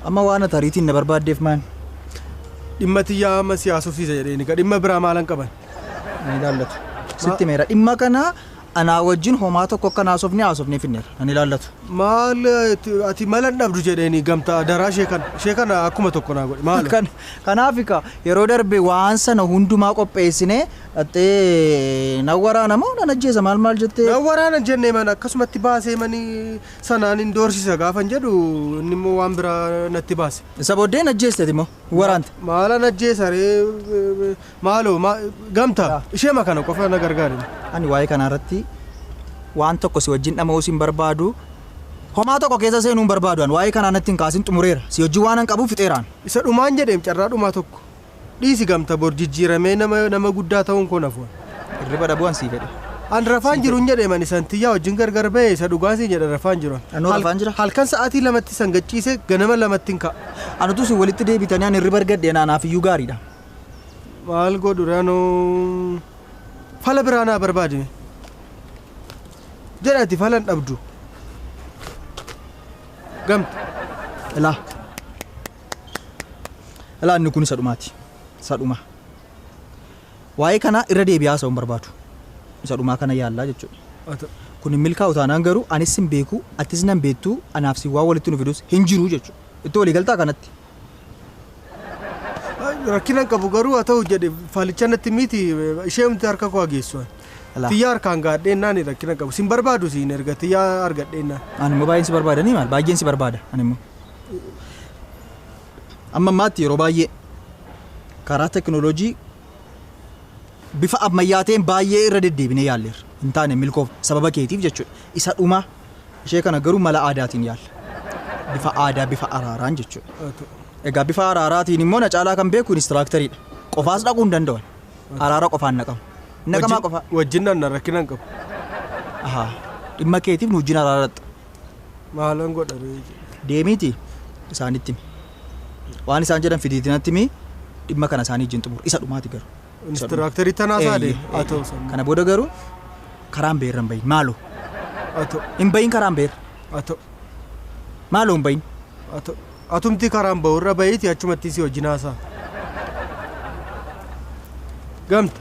Amma waan ati ariitiin na barbaaddeef maan? Dhimma tiyyaa amma siyaasofsiisa jedheen egaa dhimma biraa maalan qaban? Ni ilaallatu. Sitti meera dhimma kana Anaa wajjin homaa tokko akkan haasofne haasofnee fixneerra. Nan ilaallatu. Maal ati mala hin dhabdu jedheeni gamta adaraa ishee kana ishee kana akkuma tokko naa godhi maalo. Kan kanaafi ka yeroo darbe waan sana hundumaa qopheessine dhaxxee nan waraana moo nan ajjeesa maal maal jettee. Nan waraana hin jenne man akkasumatti baasee mani sanaan hin doorsisa gaafan jedhu inni immoo waan biraa natti baase. Isa booddee hin ajjeeste ati moo hin waraante. Maalan ajjeesa ree Maaloo ma, gamta, Yaa. isheema kana qofa na gargaari me. Ani waa'ee kanaa irratti waan tokko si wajjin dhama'uus hin barbaadu. Homaa tokko keessa seenuu hin barbaadu an. Waa'ee kanaa natti hin kaasin xumureera. Si wajjin waanan qabuuf fixeeraan. Isa dhumaan jedheem carraa dhumaa tokko. Dhiisi gamta bor jijjiiramee nama nama guddaa ta'uun koo nafu an. Hirriba dhabuu an sii fedhe. An rafaan Sii jiruun jedheem ani san tiyyaa wajjin gargar ba'e isa dhugaan siin jedha rafaan jiru an. Anoo Hal- rafaan jira? Halkan sa'aatii lamatti san gachiise ganama lamattin ka'a. An utuu isin walitti deebitanii an hirriba argadhee naa naaf iyyuu gaariidha. Maal godhu rano fala biraa naa barbaadi mee jedhati falan dhabdu gamte Ilaa. Ilaa inni kun isa dhumaati. Isa dhumaa. Waa'ee kanaa irra deebi'aa haasa'uu hin barbaadu. Isa dhumaa kana yaallaa jechuudha. Ata Kun hin milkaa'u taanaan garuu anis sin beeku atis nan beektu anaaf sin waan walitti nu fidus hin jiru jechuudha. Itti walii galtaa kanatti. Rakkina hin qabu garuu haa ta'u jedhe faalicha natti miti isheemti harka koo hageessu. Alaa. Tiyyaa harkaan gaadheennaan rakkina hin qabu. Sin barbaadu siin erga tiyyaa argadheennaan. Ani immoo baay'een si barbaada ni maal baay'een si barbaada ani immoo. Amma ammaatti yeroo baay'ee karaa tekinooloojii bifa ammayyaa ta'een baay'ee irra deddeebinee yaalleerra hin taane milkoof sababa keetiif jechuudha isa dhumaa Ishee kana garuu mala aadaatiin yaalla. Bifa aadaa, bifa araaraan jechuudha. Egaa bifa araaraatiin immoo na caalaa kan beeku inistiraakteriidha. Qofaas dhaquu hin danda'u. Araara qofaan naqamu. Naqamaa qofaa. Wajjin nanna rakkina hin qabu. Ahaa. Dhimma keetiif nu wajjin araaratta. Maalan godha ree? Deemiiti isaanitti himi. Waan isaan jedhan fidiitinatti himi. Dhimma kana isaanii wajjin xumur. Isa dhumaati garuu. Inistiraaktarii tanaa Eeyyee, saade. eeyyee. Haa ta'u sana. Kana booda garuu karaan beerra hin bahin maaloo Haa ta'u. hin bahin karaan beerra Haa ta'u. maaloo hin bahin. Haa ta'u. Atumti karaan bahu irra bahiiti achumatti si wajjin haasaa. Gamta.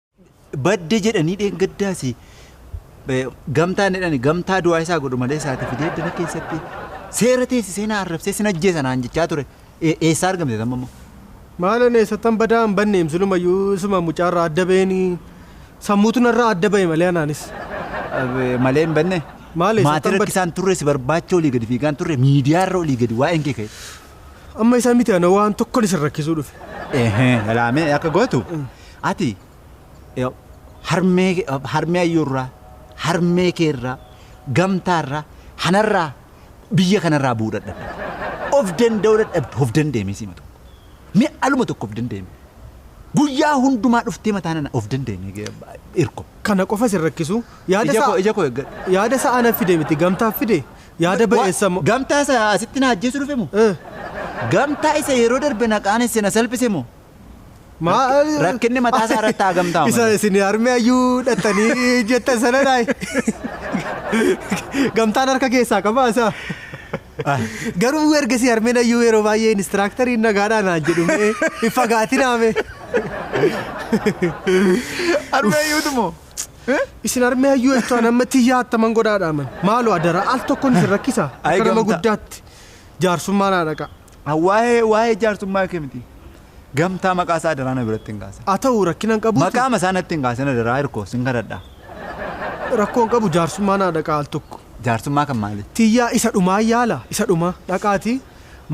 badde jedhanii dheengaddaas gamtaan jedhani gamtaa du'aa isaa godhu malee isaati fidee dana keessatti seera teessisee na arrabsee sin ajjeesa naan jechaa ture eessaa argamte tamma immoo. Maalan eessattan badaa hin banneem silumayyuu isuma mucaarraa adda ba'eenii sammuutu narraa adda ba'e malee anaanis. Malee hin banne. Maal eessattan badde? Maatii rakkisaan turre si barbaacha olii gadi fiigaan turre miidiyaarra olii gadi waa'een kee ka'e. Amma isaa miti ana waan tokkon isin rakkisuu dhufe. Ehee, ilaamee akka gootu. Ati eh, harmee eh, harmee ayyuurraa, harmee keerraa, gamtaarraa, hanarraa, biyya kanarraa bu'uu dadhabde. Of danda'uu dadhabde, of dandeemee sima tokko. Mee aluma tokko of dandeeme. Guyyaa hundumaa dhuftee mataa nana of dandeemee gee- irko. Kana qofa isin rakkisu. Yaada Ija isaa koo, ija koo eeggadhu. yaada isaa anaaf fide miti gamtaaf fide. Yaada Wa- ba'eessa mo- Gamtaa isa asitti na ajjeesu dhufe moo? Eh, Gamtaa isa yeroo darbe na qaanesse na salphise moo? maal- Rakkinni mataa isaa irratti haa gamtaa Isa malee. isin harmee ayyuu dhattanii jettan sana dhaay. Gamtaan harka keessaa qabaa isaa. Garuu ergasii harmeen ayyuu yeroo baay'ee inistiraaktarii nagaadhaan naan jedhu mee hin fagaatinaa mee. Harmee ayyuutu moo? Isin harmee hayyuu jechuun amma tiyyaa attaman godhaadha aman. Maaloo adara al tokkoon isin rakkisa Ay, akka nama gamtaa. guddaatti jaarsummaa naa dhaqa. Waa'ee waa'ee jaarsummaa kee miti. Gamtaa maqaa isaa adaraa na biratti hin kaasin. Haa ta'u rakkina hin qabuuti. Maqaa masaa natti hin kaasin adaraa hirkoo sin kadhadha. Rakkoo hin qabu jaarsummaa naa dhaqa al tokko. Jaarsummaa kan maali? Tiyyaa isa dhumaa yaala isa dhumaa dhaqaati.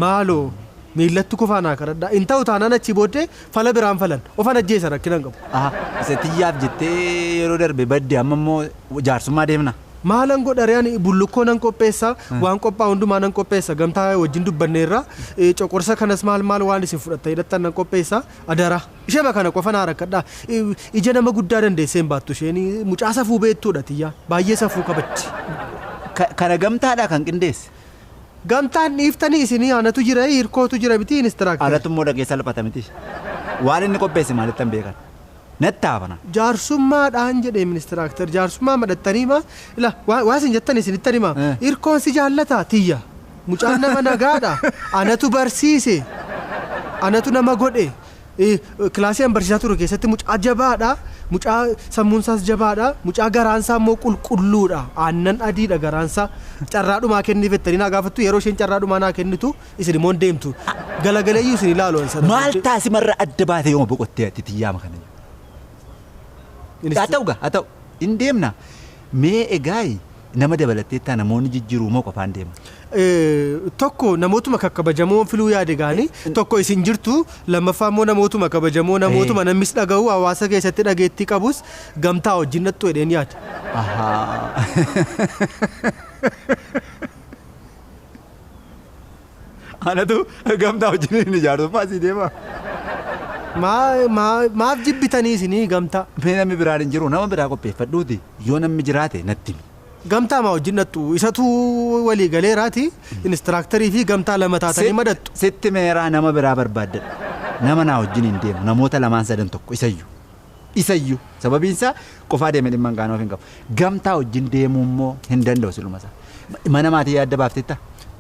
Maaloo miillatti kufaa naa kadhadhaa. Hin ta'u taanaan achii booddee fala biraan falan. Ofan ajjeesa rakkina hin qabu. Aha isa tiyyaaf jettee yeroo darbe badde amma immoo jaarsummaa deemna? Maalan godha ree ani bullukkoo nan qopheessa, waan qophaa'u hundumaa nan qopheessa. Gamtaa wajjin dubbanneerra. Coqorsa kanas maal maal waan isin fudhattanii dhaqxan nan qopheessa. Adaraa. Isheema kana qofa naa rakkadhaa. Ija nama guddaa dandeessee hin baattu isheen. Mucaa safuu beektuudha tiyyaan. Baay'ee safuu qabatti. Kana gamtaadhaa kan qindeesse? Gamtaan dhiiftanii isinii anatu jira hirkootu jira mitii instructor. Anatu immoo dhaqee salphata mitii. Waan inni qopheesse maalittan beekan. Natti haafana. Jaarsummaa dhaan jedheem instructor jaarsummaa madhattanii maa ila waa waa isin jettan isinittan himaa Eh. hirkoon si jaallataa tiyya mucaan nama nagaa dha anatu barsiise anatu nama godhe Kilaasii an barsiisaa ture keessatti mucaa jabaadha. Mucaa sammuun isaas jabaadha. Mucaa garaan isaa immoo qulqulluudha. Aannan adiidha garaan isaa. Carraa dhumaa kenniif jettanii naa gaafattu. Yeroo isheen carraa dhumaa naa kennitu isin immoo hin deemtu. Galagaleeyyuu isin ilaalu an sana. Maal taasimarra adda baatee yooma boqottee ati tiyyaama kana? Haa ta'u gaa haa ta'u hin deemna. Mee egaa Nama dabalatteettaa namoonni jijjiruu moo qofaan deeman? Tokko namootuma kakkabajamoon filuu yaade gaani, tokko isin jirtu, lammaffaa immoo namootuma kabajamoo, namootuma namnis dhagahu, hawaasa keessatti dhageettii qabus gamtaa wajjin dhaqxu jedheen yaada. Ahaa. Anatu gamtaa wajjin hin ijaartu maasii deema. Maa- maa- Maaf jibbitanii isinii gamtaa? Mee namni biraan hin jiru nama biraa qopheeffadhuuti yoo namni jiraate natti himi. Gamtaa maa wajjin dhattu? Isatu walii galeeraati inistiraaktarii fi gamtaa lama taatanii madhattu. Sitti meeraa nama biraa barbaaddadha. Nama naa wajjin hin deemu namoota lamaan sadan tokko isayyuu. Isa iyyuu. Sababiin isaa qofaa deemee dhimma hin kaanoof hin qabu. Gamtaa wajjin deemuu immoo hin danda'u siluma isaa. Mana maatii yaadda baafteettaa?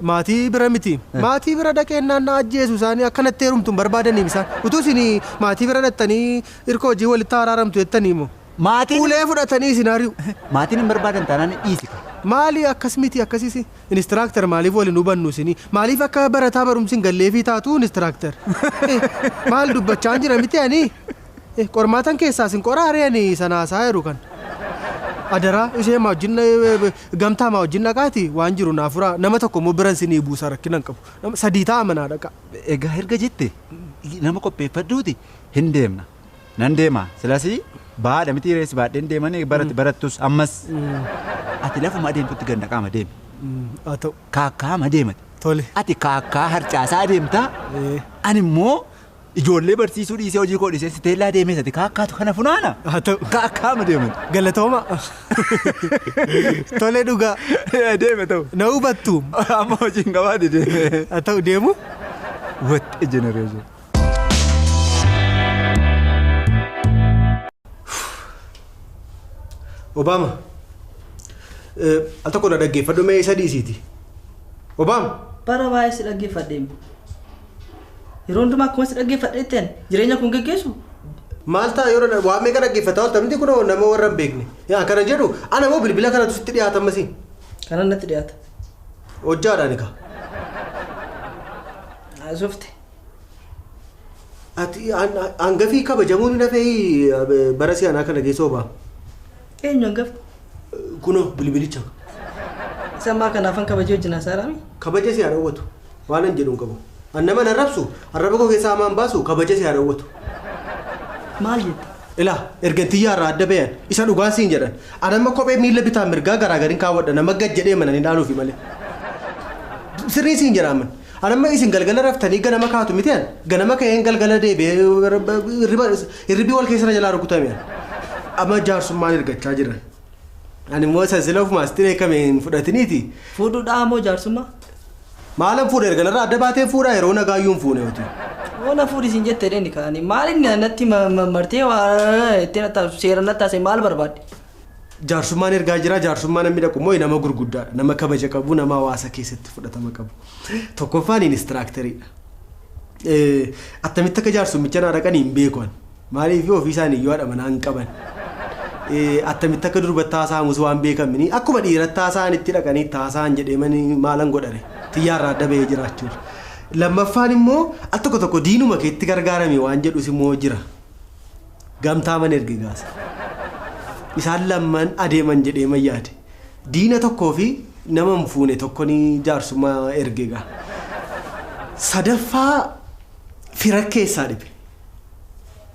Maatii bira miti. Maatii bira dhaqeennaan na ajjeesu isaanii akka natti heerumtu hin barbaadaniim isaan. Utuu isin maatii bira dhaqxanii irka wajjin walitti araaramtu jettanii moo. Maatiin. Ulee fudhatanii isin ari'u. Maatiin hin barbaadan taanaan dhiisi kaa. Maali akkas miti akkasis instructor maaliif wal hin hubannu isinii? Maaliif akka barataa barumsi hin galleefii taatu instructor? Maal dubbachaan jira miti ani? Eh qormaatan keessaa sin qoraa ree ani sana haasaa jiru kan. Adaraa ishee maa wajjin gamtaa maa wajjin dhaqaati waan jiru naa furaa nama tokko immoo biran sinii buusa rakkina hin qabu. Nama sadii ta'a manaa dhaqaa. Egaa erga jette nama qopheeffadhuuti hin deemna. Nan deema silasii baadha mitii ree si baadheen deemanii barati barattus ammas. Ati lafuma adeemtutti gad naqaama deemi. Haa ta'u. Kaakkaama deemati. Tole. Ati kaakkaa harcaasaa deemtaa Eh. ani immoo Ijoollee barsiisuu dhiisee hojii koo dhiisee siteellaa deemee sati kaakkaatu kana funaana. Haa ta'u. Kaakkaama deeman. Galatooma. Tole dhugaa. Deeme ta'u. Na hubattu. Amma hojiin gabaade deeme. Haa ta'u deemu. What a generation. Obaama. Al tokko na dhaggeeffadhu mee isa dhiisiiti. Obaama. Bara baay'ee si dhaggeeffadheem. Yeroo hundumaa akkuma si dhaggeeffadheetteen jireenya kun geggeessu. Maal ta'a yoo dha- waan meeqa dhaggeeffata wanta miti kunoo nama warra hin beekne. Yaa kana jedhu ana moo bilbila kanatu sitti dhiyaata ammasii. Kanan natti dhiyaata. Hojjaadhaan egaa. Haasofte. Ati an- an- hangafii kabajamuun hin hafee bara si'anaa kana geessoo ba'a. Eenyu hangafa? Kunoo bilbilicha. Isa ammaa kana afaan kabajee wajjin haasa'aaraami? Kabaja si haa dhowwatu. Waanan jedhu hin qabu. An naman arrabsu arraba koo keessaa hamaan baasu kabaja si haa dhowwatu. Maal jette? Ilaa ergan tiyyaa irraa adda bayan isa dhugaan siin jedhan. An amma kophee miila bitaa mirgaa garaagarin kaawwadha nama gad jedhee mana ni dhaaluufi malee. Sirrii siin jedha amma. An amma isin galgala raftanii ganama kaatu miti an ganama ka'een galgala deebi'ee hirriba hirribii wal keessa na jalaa rukutame an. Amma jaarsummaan ergachaa jiran. Ani immoo isa sila ofuma asitti beekame hin fudhatiniiti. Fuudhudhaa moo jaarsummaa? Maalan fuudha erga narraa adda baateen fuudha yeroo nagaayyuu hin fuune oti. Yoo na fuudhi isin jette dheeni kaani maal inni natti ma- ma- martee waa itti natti seera natti haasee maal barbaadde? Jaarsummaan ergaa jira. Jaarsummaa namni dhaqu immoo nama gurguddaadha. Nama kabaja qabu, nama hawaasa keessatti fudhatama qabu. Tokkoffaan inistiraakteriidha. Attamitti akka jaarsummicha naa dhaqan hin beeku ani. Maaliif ofii isaanii yoo haadha manaa hin qaban. Attamitti akka durbatti haasa'amus waan beekamini. Akkuma dhiiratti haasa'an itti dhaqanii itti haasa'an jedhee mani maalan godhare. Xiyyaarraa adda bahee jiraachuudha. Lammaffaan immoo al tokko tokko diinuma keetti gargaarame waan jedhus immoo jira. Gamtaaman erge gaasa. Isaan lamman adeeman jedheeman yaade. Diina tokkoo fi nama hin fuune tokkon jaarsummaa erge gaa. Sadaffaa fira keessaa dhibe.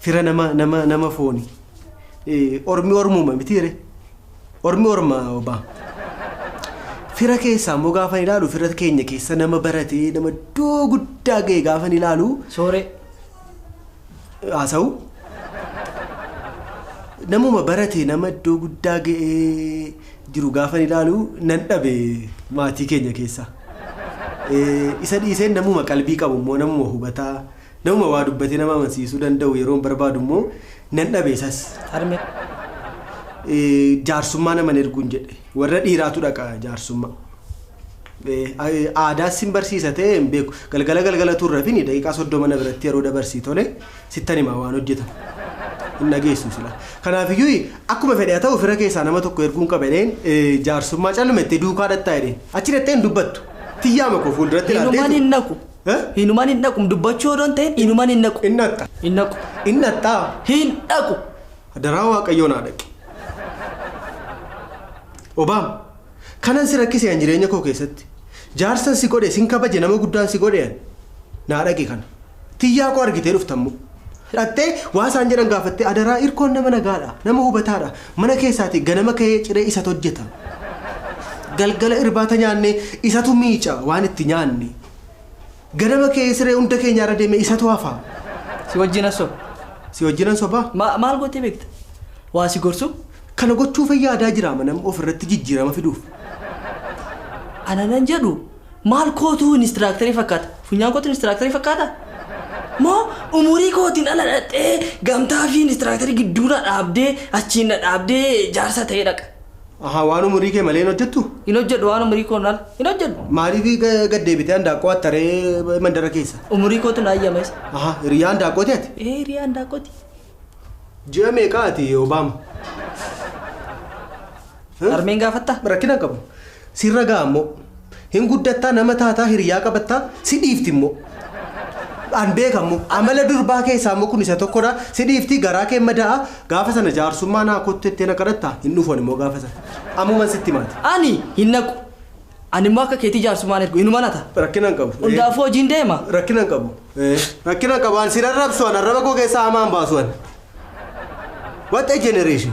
Fira nama nama nama fooni. Ormi ormuma mitiire. Ormi orma obaa. Fira keessaa immoo gaafan ilaalu fira keenya keessa nama baratee nama iddoo guddaa ga'e gaafan ilaalu. Sooree. haasa'u. Namuma barate nama iddoo guddaa ga'ee jiru gaafan ilaalu nan dhabe maatii keenya keessaa. Eh, Isa dhiiseen namuma qalbii qabu immoo namuma hubataa namuma waa dubbatee nama amansiisuu danda'u yeroon barbaadu immoo nan dhabe isas. Harmee. Eh, Jaarsummaa naman erguun jedhe warra dhiiraatu dhaqa jaarsummaa. Aadaas sin barsiisa ta'ee hin beeku. Galgala galgala utuu hin rafini daqiiqaa 30 na biratti yeroo dabarsii tole sittan hima waan hojjetamu. Hin dhageessu silaa. Kanaafiyyuu akkuma fedhe haa ta'u fira keessaa nama tokko erguun qaba jedheen jaarsummaa calluma jettee duukaa dhaqxaa jedheen. Achi dhaqxee hin dubbattu. Tiyyaama koo fuulduratti ilaaltee. Hinuman hin dhaqu. Hinuman hin dhaqu dubbachuu odoo hin ta'in hinuman hin dhaqu. Hin dhaqxa. Hin dhaqu. Hin dhaqxaa. Hin dhaqu. Adaraa waaqayyoo naa dhaqi. Obaam. Kanan si rakkise an jireenya koo keessatti jaarsan si godhe sin kabaje nama guddaan si godhe an naa dhaqi kana tiyyaa koo argitee dhuftammoo dhaqxee waa isaan jedhan gaafattee adaraa irkoon nama nagaadha nama hubataadha mana keessaati ganama ka'ee ciree isat hojjeta galgala irbaata nyaannee isatu miica waan itti nyaanne Ganama ka'ee siree hunda keenyaa irra deemee isatu hafa. Si wajjin nan soba. Si wajjin nan soba? Ma, maal gootee beekta? Waa si gorsuu? Kana gochuufan yaadaa jira amanam of irratti jijjiirama fiduuf. Ana nan jedhu maal kootuu inistiraaktarii fakkaata? Funyaan kootu inistiraaktarii fakkaata? Moo umurii kootiin ala dhaqxee gamtaa fi inistiraaktarii gidduu na dhaabdee achiin na dhaabdee jaarsa ta'ee dhaqa? Ahaa waan umurii kee malee hin hojjettu? Hin hojjedhu waan umurii koon ala hin hojjedhu. Maaliif ga- gad deebitee handaaqqoo attaree mandara keessa? Umurii kootu na ayyama isa. Ahaa hiriyaa handaaqqooti ati? Ee hiriyaa handaaqqooti. Ji'a meeqaa ati Obaama? Harmeen gaafattaa? Rakkina hin qabu. Sirra ga'a ammoo. Hin guddattaa nama taataa hiriyyaa qabattaa si dhiifti immoo an beeka immoo amala durbaa keessaa immoo kun isa tokkodha si dhiifti garaa kee madaa'a gaafa sana jaarsummaa naa kottu jettee na kadhatta hin dhufu ani immoo gaafa sana ammuman sitti himaati. Ani hin naqu. Ani immoo akka keetii jaarsummaa hin ergu hinuma nata. Rakkina hin qabu. Hundaafuu hojiin deema. Rakkina hin qabu. Rakkina hin qabu an si rarrabsu an arraba koo keessaa hamaa hin baasu an. What a generation.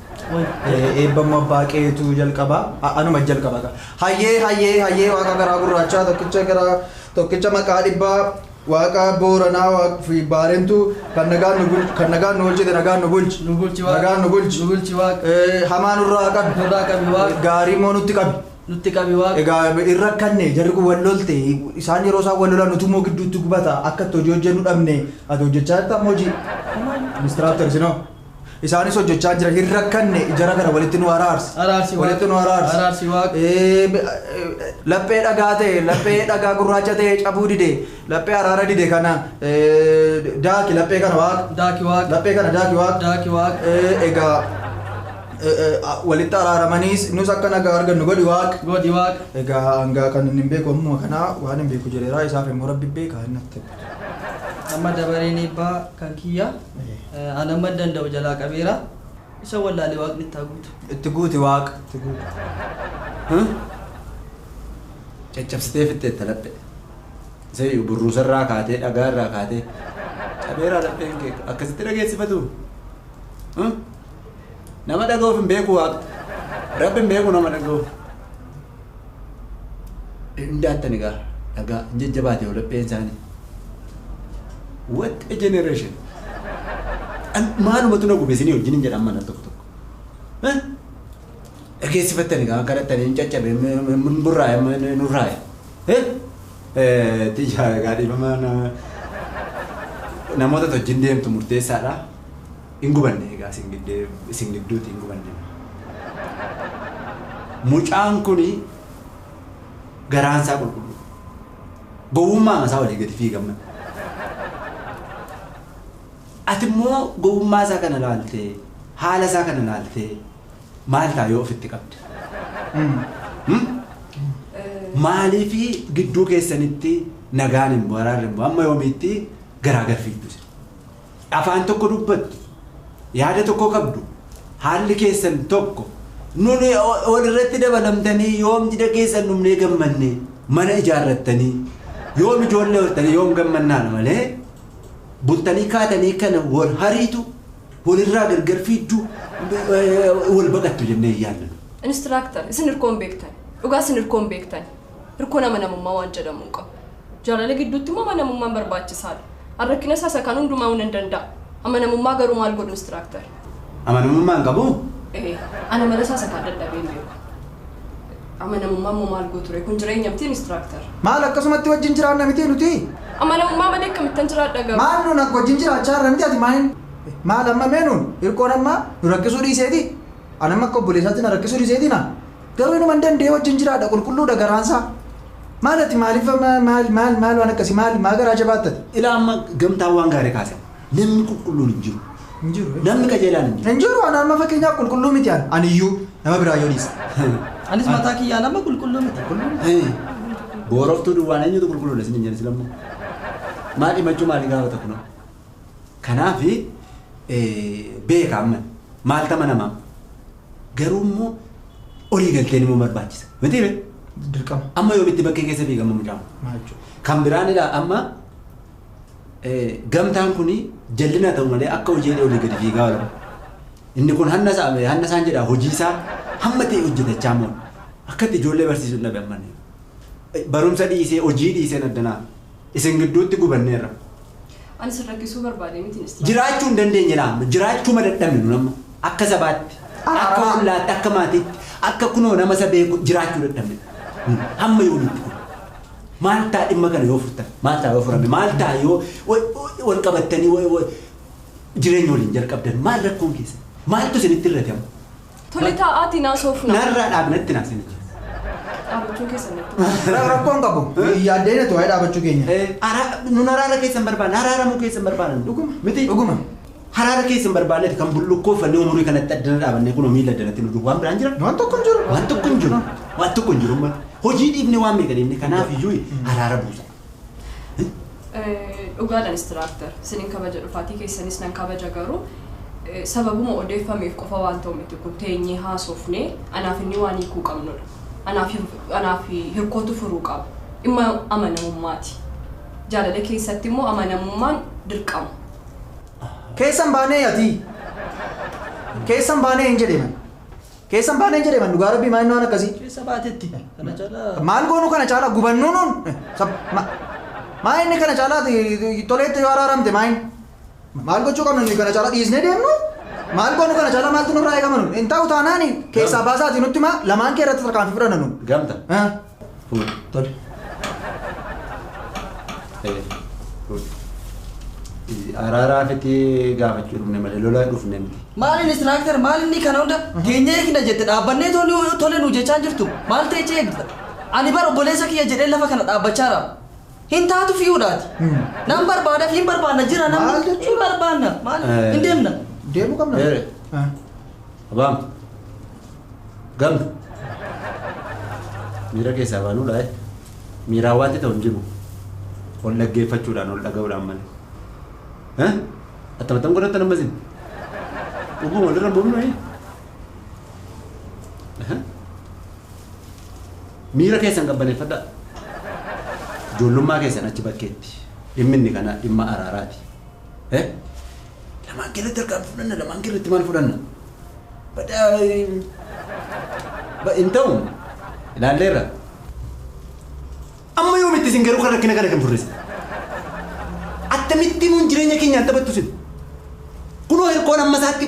Eebbamma abbaa qeetu jalqaba. A- Anuma jalqaba gaa. Hayyee hayyee hayyee waaqa garaa gurraachaa tokkicha garaa tokkicha maqaa dhibbaa waaqa booranaa Waaq- fi baarentuu kan nagaan nu bulchu kan nagaan nu bulchite nagaan nu bulchi. Nu bulchi Waaqa. Nagaan nu bulchi. Nu bulchi Waaqa. Eh, Hamaa nurraa qabi. Nurraa qabi Waaqa. Gaarii immoo nutti qabi. Nutti qabi Waaqa. Egaa irra kanne jarri kun wal lolte isaan yeroo isaan wal lolan nuti immoo gidduutti gubata akka itti hojii hojjennu dhabne ati hojjechaa jirta amma hojii. Ministiraaf tarsinoo. Isaanis hojjechaa jira hin rakkanne jara kana walitti nu araarsi. Araarsi Waaqa. Walitti nu araarsi. Araarsi Waaqa. Ee, be- ee, Laphee dhagaa ta'e laphee dhagaa gurraacha ta'e cabuu dide laphee araara dide kana ee, daaki laphee kana waaqa. Daaki Waaqa. Laphee kana daaki waaqa. Daaki Waaqa. Ee, Egaa ee, ee, a- walitti araaramaniis nus akka nagaa argannu godhi waaqa. Godhi Waaqa. Egaa hangaa kan inni hin beeku ammuma kanaa waan hin beeku jedheeraa isaaf immoo rabbi beekaa inni natti. Amma dabareen eebbaa kan kiyya. An amman danda'u jalaa qabeera. Isa wallaale waaqni itti haa guutu. Itti guuti waaqa itti guuta. Huh? Caccabsitee fixxeetta laphee. Isayyu burruusarraa kaatee dhagaarraa kaatee cabeeraa lapheen kee akkasitti dhageessifatu. Huh? Nama dhaga'uuf hin beeku waaqni. Rabbi hin beeku nama dhaga'uuf. Dandaattan egaa dhagaa hin jajjabaate yoo lapheen isaanii. What a generation! An- Maalumatu na gube isinii wajjin hin jedhan mana tokko tokko. Eh? Dhageessifattan egaa akka dhattanii hin caccabe hin burraa'e hin nurraa'e. Eh? Eh, Tiyyaa egaa dhiifama na- namoota wajjin deemtu murteessaadha. Hin gubanne egaa isin giddee isin gidduuti hin gubanne moo. Mucaan kuni garaan isaa qulqulluu dha. Gowwummaama isaa waliin gadi fiigan malee. Ati immoo gowwummaa isaa kana ilaaltee haala isaa kana ilaaltee maal ta'a yoo ofitti qabde? Hum? Maaliifi gidduu keessanitti nagaan hin bu'u araarri hin bu'u amma yoomiitti garaa gad fiigdu isin? Afaan tokko dubbattu, yaada tokko qabdu, haalli keessan tokko. Nun wal irratti dabalamtanii yoom jida keessan dhumnee gammannee mana ijaarrattanii yoom ijoollee hortanii yoom gammannaan malee bultanii kaatanii kana wal hariitu walirraa gargar fiigdu wal baqattu jennee hin yaadnu. Instructor, isin hirkoon beektan. Dhugaa isin hirkoon beektan. Hirkoon amanamummaa waan jedhamu hin qabu. Jaalala gidduutti immoo amanamummaan barbaachisaa dha. An rakkina isaa isa kaan hundumaa'uu nan danda'a. Amanamummaa garuu maal godhu instructor? Amanamummaa hin qabuu? Ee, an amala isaa isa kaan dadhabee hin beeku. Amanamummaa immoo maal gootu ree? Kun jireenya miti instructor. Maal akkasumatti wajjin jiraanna miti nuti? Amanamummaa malee akkamittan jiraadha garuu? Maal nuun akka wajjin jiraachaa jirra miti ati maayin? Maal amma mee nuun hirkoon amma nu rakkisuu dhiiseeti? An amma akka obboleessaatti na rakkisuu dhiiseeti na? Garuu inuma hin danda'ee wajjin jiraadha qulqulluudha garaansaa. Maal ati maaliif maal maal maal maal waan akkasii maal maa garaa jabaatta ati? Ilaa amma gamtaan waan gaarii kaasan. Namni qulqulluun hin jiru. Hin jiru. Namni qajeelaan hin jiru. Hin jiru ana amma fakkeenyaaf qulqulluu miti an aniyyuu nama biraa yoo dhiise. Anis mataa kiyyaan amma qulqulluu miti. Hee, Booroftuu duwwaan eenyutu qulqulluudha isin hin jedhe silammoo. Maal himachuu maali gaafata kunoo? Kanaaf beeka amma maaltu amanamaa garuu immoo olii galteen immoo barbaachisa miti ree Dirqama. amma yoomitti bakkee keessa fiigama mucaan Maal jechuudha? kan biraan ilaa amma eh, gamtaan kun jallina ta'u malee akka hojii jedhee olii gadi fiigaa oola inni kun hanna isaa hanna isaan jedha hojii isaa hamma ta'e hojjetachaa moo akkatti ijoollee barsiisuun dhabe amma inni. barumsa dhiisee hojii dhiiseen addanaa Isin gidduutti gubanneerra. Ani isin rakkisuu barbaadee miti Inistiraaktar. Jiraachuu hin dandeenye laa amma. Jiraachuu ma dadhabne nun amma. Akka sabaatti, akka ollaatti, akka maatiitti, akka kunoo nama isa beeku jiraachuu dadhabne. Nun hamma yoomiitti kun? Maal ta'a dhimma kana yoo furtan? Maal ta'a yoo furame? Maal ta'a yoo wal qabattanii jireenya waliin jalqabdan? Maal rakkoon keessan? Maaltu isinitti hir'ate amma? Tole taa'aatiin haasofna. Narraa dhaabna itti naaf sinichi. Dhaabachuu keessan natti. Ra- Rakkoon qabu. Yaaddee natu waa'ee dhaabachuu keenya. Nun haraara keessan barbaanna. Haraaramuu keessan barbaanna. Dhuguma. Miti. Dhuguma. Haraara keessan barbaanneeti kan bullukkoo fannoo umurii kanatti addana dhaabannee kunoo miila addanatti nu duuba. Waan biraan jira? Waan tokko hin jiru. Waan tokko hin jiru. Waan tokko hin jiru. Hojii dhiibne waan meeqa deemne kanaaf iyyuu haraara buusa. Dhugaadha instructor sinin kabaja dhufaatii keessanis nan kabaja garuu eh, sababuma odeeffameef qofa waan ta'u miti kun teenyee haasofnee anaaf inni waan hiikuu qabnudha anaaf hir- anaaf hirkootu furuu qaba dhimma amanamummaati jaalala keessatti immoo amanamummaan dirqama Keessan baanee ati. Keessan baanee hin jedhe man. Keessan baaneen jedhe man dhugaa rabbii maayinni waan akkasii. Keessa baatetti kana caalaa. Maal goonu kana caalaa gubannuu nuun. Sab- ma- Maayinni kana caalaa ti- toleetti yoo araaramte maayin. Maal gochuu qabna nuyi kana caalaa dhiisnee deemnu? Maal goonu kana caalaa maaltu nurraa eegama nuun? Hin ta'u taanaani keessaa baasaatii nutti maa lamaan kee irratti tarkaanfii fudhanna nuun. Gamta. Eh. Fuudhi. Tole. Ee, fuudhi. Izi- Araaraa fiti gaafachuu dhufne malee lolaa dhufne miti. Maaliin istiraaktar maalinni kana hunda keenya eegna jette dhaabbannee tole tole nu jechaa jirtu maal ta'e eegda? Ani bara obboleessa kiyya jedhee lafa kana dhaabbachaara. Hin taatu fiyuudhaati. Nan barbaada fi hin barbaanna jira Maal namni. jechuudha? Hin barbaanna. Maal? Eh. Hin deemna. Deemuu qabna. Eere. Ah. Abaam. Gamna. Miira keessaa baanuudha eh. Miiraa waanti ta'u hin jiru. Ol dhaggeeffachuudhaan ol dhaga'uudhaan malee. Eh? Attamattan godhatta nama isin. Dhuguma walirra buufnu eh. Aha. Miira keessan qabbaneeffadhaa. Ijoollummaa keessan achi bakkeetti. Dhimmi inni kanaa dhimma araaraati. Eh? Lamaan keerratti harkaan fudhanna, lamaan keerratti maal fudhanna? Badaa... Ba- Hin ta'u. Ilaalleerra. Amma yoomitti isin garuu kan rakkina kana kan furrisa. Attamittiin nuun jireenya keenyaan taphattu isin. Kunoo hirkoon amma isaatti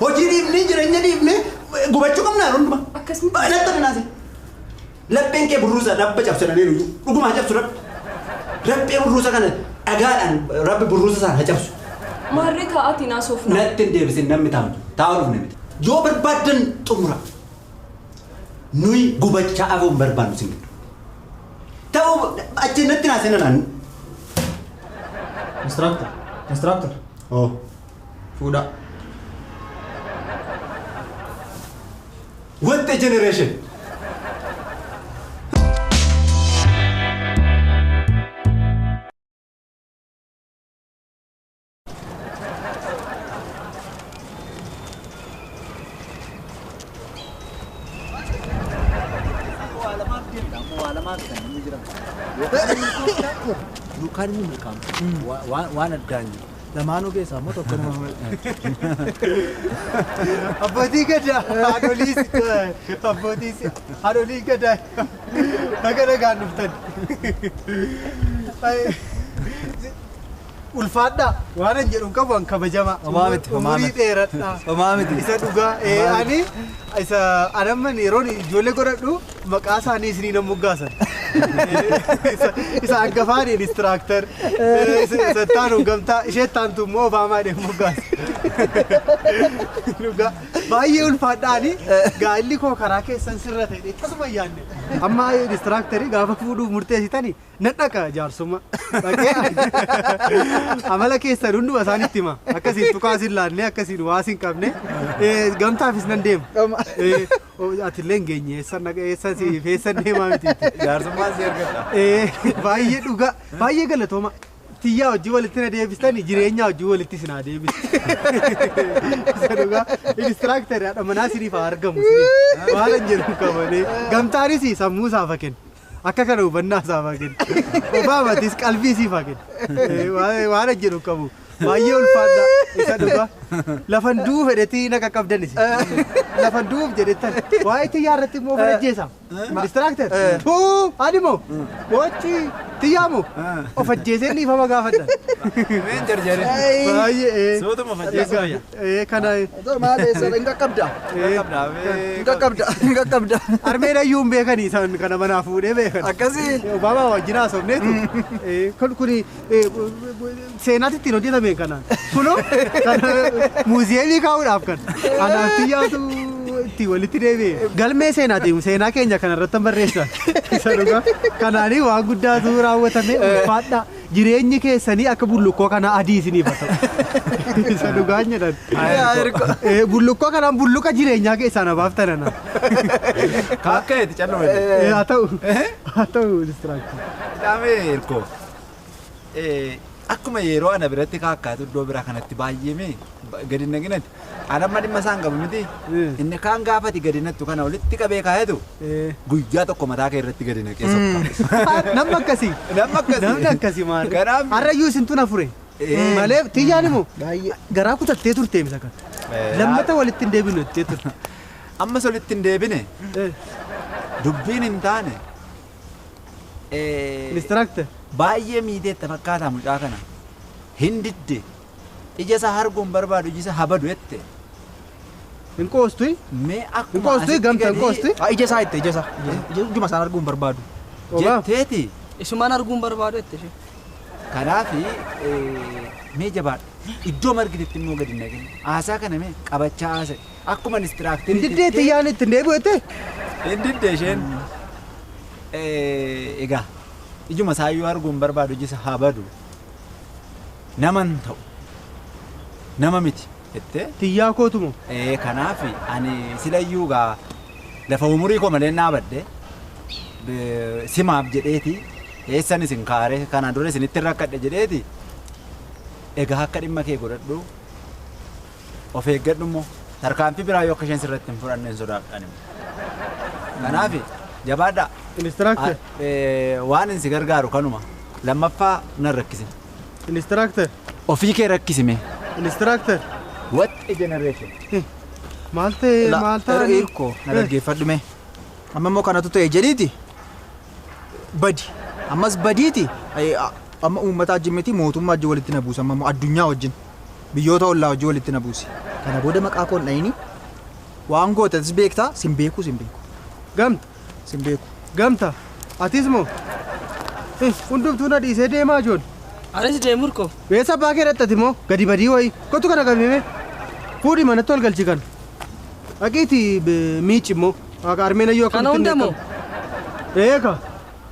Hojii dhiifnee jireenya dhiifnee gubachuu qabnaa hunduma. Akkasuma. Baay'inatti taphinaati. Lapheen kee burruusa rabba cabse dhabee nuyyuu. Dhuguma haa cabsu rabbi. Rabbi burruusa kana dhagaadhaan rabbi burruusa sana haa cabsu. Maarree taa'aatiin haasofna. Natti hin deebisin namni taa'u. Taa'u dhufne miti. Yoo barbaaddan xumura. Nuyi gubachaa afoo hin barbaannu sin gidduu. Ta'uu achi natti naa seenan. Instructor. Instructor. Oo. Fuudha. What a generation! Yookaan inni milkaa'u waan addaan jiru. Lamaanuu keessaa immoo tokko nama Abbootii gadaa haadholii abbootii haadholii gadaa baga nagaan dhuftan. Ulfaadhaa waan hin jedhu hin qabu an kabajamaa. Homaa miti, homaa Umurii miti. dheeradhaa. Homaa miti. Isa dhugaa ee ani isa anamman yeroon ijoollee godhadhu Maqaa isaanii isiniin hin moggaasan. Isa hangafaan inistiraaktar, isa ittaanu gamtaa, ishee ittaantu immoo Obaamaa hin moggaasa. Dhugaa baay'ee ulfaadhaani gaa'illi koo karaa keessan sirra ta'e tasuma hin yaadne. Amma inistiraaktarii gaafa fuudhuuf murteessitani nan dhaqa jaarsummaa. Dhaqee amala keessan hunduma isaan itti hima. Akkasiin tukaas hin laanne, akkasiin waas hin qabne. Eh, Gamtaafis nan deema. Eh, Atillee hin geenye eessan dhaqa eessan si eessan deemaa miti. Jaarsummaan si argadha. Ee, Baay'ee dhugaa baay'ee galatooma. Tiyyaa hojii walitti na deebistani jireenyaa hojii walitti isin haa deebisu. Isa dhugaa inistiraaktarii haadha manaa isiniif haa argamu isiniif. Waan hin jedhu hin qabane. Gamtaanis sammuu isaa fakkeen. Akka kana hubannaa isaaf haa kennu. Obaamaatis qalbii siif haa kennu. Eh, waan- Waan hojjetu hin qabu. Baay'ee ulfaadha isa dhugaa. Lafan du'uu fedhetii na qaqqabdan isin. Lafan du'uuf jedhettan. Waa'ee xiyyaa irratti immoo of ajjeesa. Distiraakter. Tuu ani moo bochi xiyyaa moo of ajjeesee dhiifama gaafadha. Meen jarjaree. Baay'ee. eh. Sootuma of ajjeesuu Egaa, fayya. Ee kana Otoo maal eessa hin qaqqabda. Hin qaqqabda. Hin qaqqabda. armeen ayyuu hin beekani isaan kana manaa fuudhee beekan. Akkasii. Obaamaa wajjin haasofneetu. Ee, Kun kuni ee, seenaatti ittiin hojjetame kana. Kunoo kan muuziyeemii kaa'uudhaaf kan. Anaaf xiyyaatu itti walitti deebi'e. Galmee seenaati seenaa keenya kanarratti barreessa. Isa dhugaa. Kanaanii waan guddaatu raawwatame ulfaadhaa. Jireenyi keessanii akka bullukkoo kanaa adii isiniif haa ta'u. Isa dhugaan jedhan. Eh, Bullukkoo kanaan bulluqa jireenyaa keessaa na baaftan ana. Akka itti calluma. Eh, Haa ta'u. Haa ta'u distraction. Dhaamee hirkoo. Akkuma yeroo ana biratti kaakkaatu iddoo biraa kanatti baay'ee mee gadi hin dhaqinati. An amma dhimma isaan qabu miti. Eh. Inni kaan gaafati gadi nattu kana walitti qabee kaayatu Eh. guyyaa tokko mataa kee irratti gadi naqee sokka. Namni akkasii. Namni akkasii. Namni akkasii maali? Kanaaf- Harrayyuu isin tuna fure. Eh. Malee tiyyaan immoo Baay'ee. garaa kutattee turte misa kan. Eh, Lammata walitti hin deebinu jettee turte. Ammas walitti hin deebine Eh, dubbiin hin taane. Eh, Instructor. Baay'ee miidheetta fakkaataa mucaa kana. Hin didde. Ija isaa harguu hin barbaadu iji isaa haa badu jette. Hin qoostui? Mee Hin akkuma qoostui? asitti Gamta hin gadii- qoosti? Ah, ija isaa jette ija isaa. Ija isaa. Ija- Ijuma isaan arguu hin barbaadu. Dhugaa? Jetteeti. Isumaan arguu hin barbaadu jette ishee. Kanaaf mee jabaadha. Iddoo margitetti immoo gadi hin dhaqin. Haasaa kana mee qabachaa haasa'e. Akkuma Hin inistiraaktirii. diddee xiyyaan itti hin deebi'u jettee? Hin didde isheen. Eh, Egaa ijuma isaa iyyuu arguu hin barbaadu ija isaa haa badu. naman ta'u nama miti jettee Tiyyaa kootu moo? ee kanaaf ani silayyuu gaa lafa umurii koo malee naabadde be- simaaf jedheeti eessan isin kaare kana dura isinitti rakkadhe jedheeti egaa akka dhimma kee godhadhu of eeggadhu immoo tarkaanfii biraa yoo akka isheen sirratti hin fudhanneen sodaadhaan immoo. Kanaaf jabaadhaa. Instructor. Ah, eh, Waan inni si gargaaru kanuma. Lammaffaa nan rakkise. Instructor. Ofii kee rakkisime. Instructor. What a generation. Maal ta'e La- maal ta'e. er- Irko na dhaggeeffadhu mee. Amma immoo kanatu ta'e jedhiiti. Badi. Ammas badiiti. Ay, a- Amma uummataa wajjin miti mootummaa wajjin walitti na buusa amma immoo addunyaa wajjin. biyyoota ollaa wajjin walitti na buusi. Kana booda maqaa koo hin dha'ini. Waan goote atis beekta, sin beeku, sin beeku. Gamta. Sin beeku. Gamta. Atis moo? Eh, hundumtuu na dhiisee deemaa ijoollee. Anis deemur koo. Beessa abbaa kee dhaxxati moo? Gadi badii wayii. Kottu kana qabimee. Fuudhi manatti ol galchi kana. Dhaqiiti miici immoo. Waaqa armeen ayyoo Kana akkamitti hunda moo? beekamu. Eeka.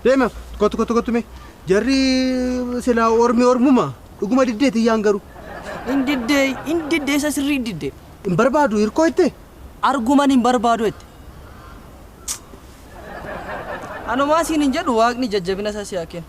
Deema. Kottu kottu kottu mee. Jarri silaa ormi ormuma. Dhuguma diddee tiyyaan garuu. Hin diddee, hin diddee isa sirrii hin diddee. Hin barbaadu hirkoo ittee. Arguman hin barbaadu jette. Anumaa siin hin jedhu waaqni jajjabina isaa si haa kennu.